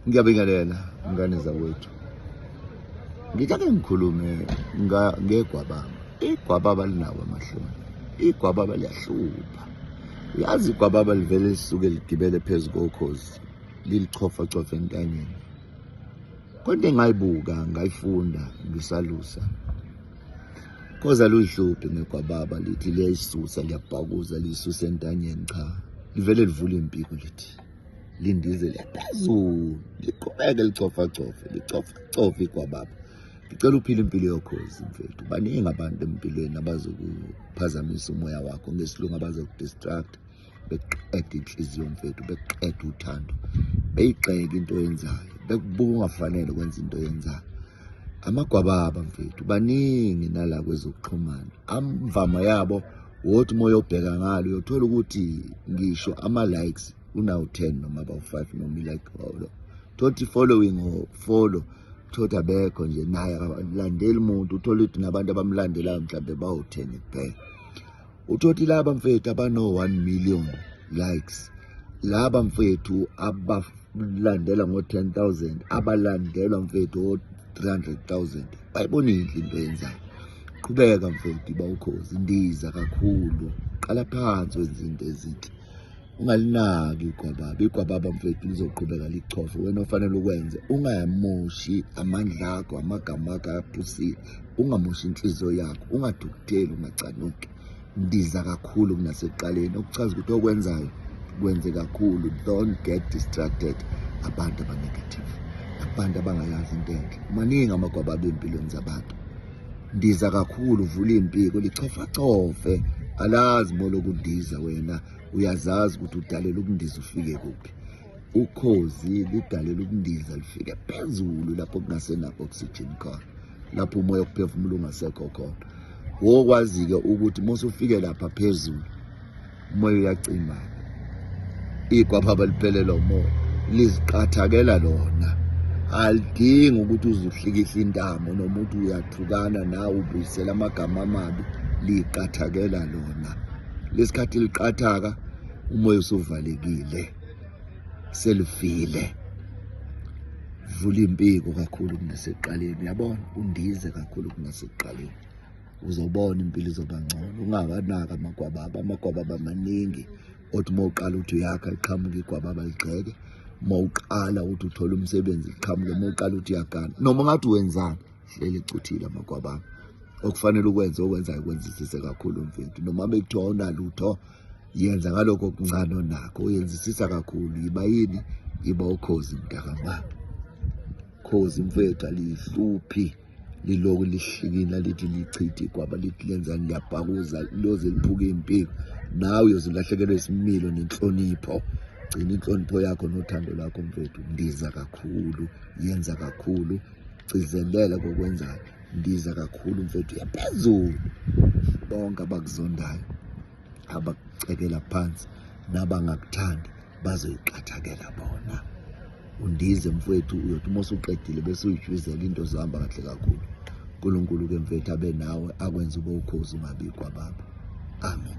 ngiyabingelela ngane zakwethu ngitake ngikhulume ngegwababa igwababa linawo amahloni igwababa liyahlupha yazi igwababa livele lisuke ligibele phezu kokhozi lilichofachofa entanyeni kodwa engayibuka ngayifunda ngisalusa koza luyihluphi ngegwababa lithi liyayisusa liyabhakuza liyisusa entanyeni cha livele livula impiko lithi lindize liyaphezulu liqhubeke licofacofe licofacofe kwababa ngicela uphile impilo yokhozi mfethu baningi abantu empilweni abazokuphazamisa umoya wakho ngesilungu abazokudistract beqeda inhliziyo mfethu beqeda uthando beyiqeke into oyenzayo bekubuka ungafanele ukwenza into oyenzayo amagwababa mfethu baningi nala kwezokuxhumana amvama yabo wothi moya obheka ngalo uyothola ukuthi ngisho ama-likes unawu-10 noma bawu-5 noma ilike holo thothi following or follow thothi abekho nje naye akalandeli muntu uthole ukuthi nabantu abamlandelayo mhlawumbe bawu-10 kuphela Utoti laba mfethu abano 1 million likes laba mfethu abalandela ngo 10000 abalandelwa mfethu o 300000 bayibona inhle into yenzayo qhubeka mfethu bawukhozi ndiza kakhulu qala phansi wenza into ezinhle ungalinaki igwababa igwababa mfethu lizoqhubeka lichofe wena ofanele ukwenze ungayamoshi amandla akho amagama akho ayaphusile ungamoshi inhliziyo yakho ungadukutheli ungacanuki ndiza kakhulu kunasekuqaleni okuchaza ukuthi okwenzayo kwenze kakhulu don't get distracted abantu abanegative abantu abangayazi into enhle maningi amagwababa empilweni zabantu ndiza kakhulu vula iy'mpiko lichofachofe alazi molokundiza wena uyazazi ukuthi udalela ukundiza ufike kuphi ukhozi lidalela ukundiza lifike phezulu lapho kungasenakho oxygen khona lapho umoya okuphefumula ungasekho khona wokwazi-ke ukuthi uma usufike lapha phezulu umoya uyacimana igwapha baliphelelwa umoya liziqathakela lona alidingi ukuthi uzuhlikisa intamo noma ukuthi uyathukana nawe ubuyisela amagama amabi liqathakela lona lesikhathi liqathaka umoya usuvalekile selufile vula impiko kakhulu kunaseqaleni yabona undize kakhulu kunaseqaleni uzobona impilo izoba ngcono ungabanaka amagwababa amagwababa maningi othi uma uqala uthi uyakha iqhamuka igwababa ligxeke uma uqala uthi uthola umsebenzi iqhamuke uma uqala uthi uyagana noma ungathi wenzani hleli cuthile amakwaba okufanele ukwenze okwenzayo ukwenzisise kakhulu mfethu noma bekuthiwa unalutho yenza ngalokho okuncane onakho uyenzisisa kakhulu yiba yini yiba ukhozi mntakama khozi mfethu alihluphi liloku lihlikina lithi lichithi kwaba lithi lenzani liyabhakuza loze liphuke impiko nawe uyozilahlekelwa isimilo nenhlonipho gcina inhlonipho yakho nothando lakho mfethu ndiza kakhulu yenza kakhulu gcizelela kokwenzayo ndiza kakhulu mfethu yaphezulu bonke abakuzondayo abakucekela phansi nabangakuthandi bazoyiqathakela bona undize mfwethu uyothi uma usuqedile bese uyijwizela into zohamba kahle kakhulu unkulunkulu ke mfethu abe nawe akwenza ube ukhozi ungabikwa baba amen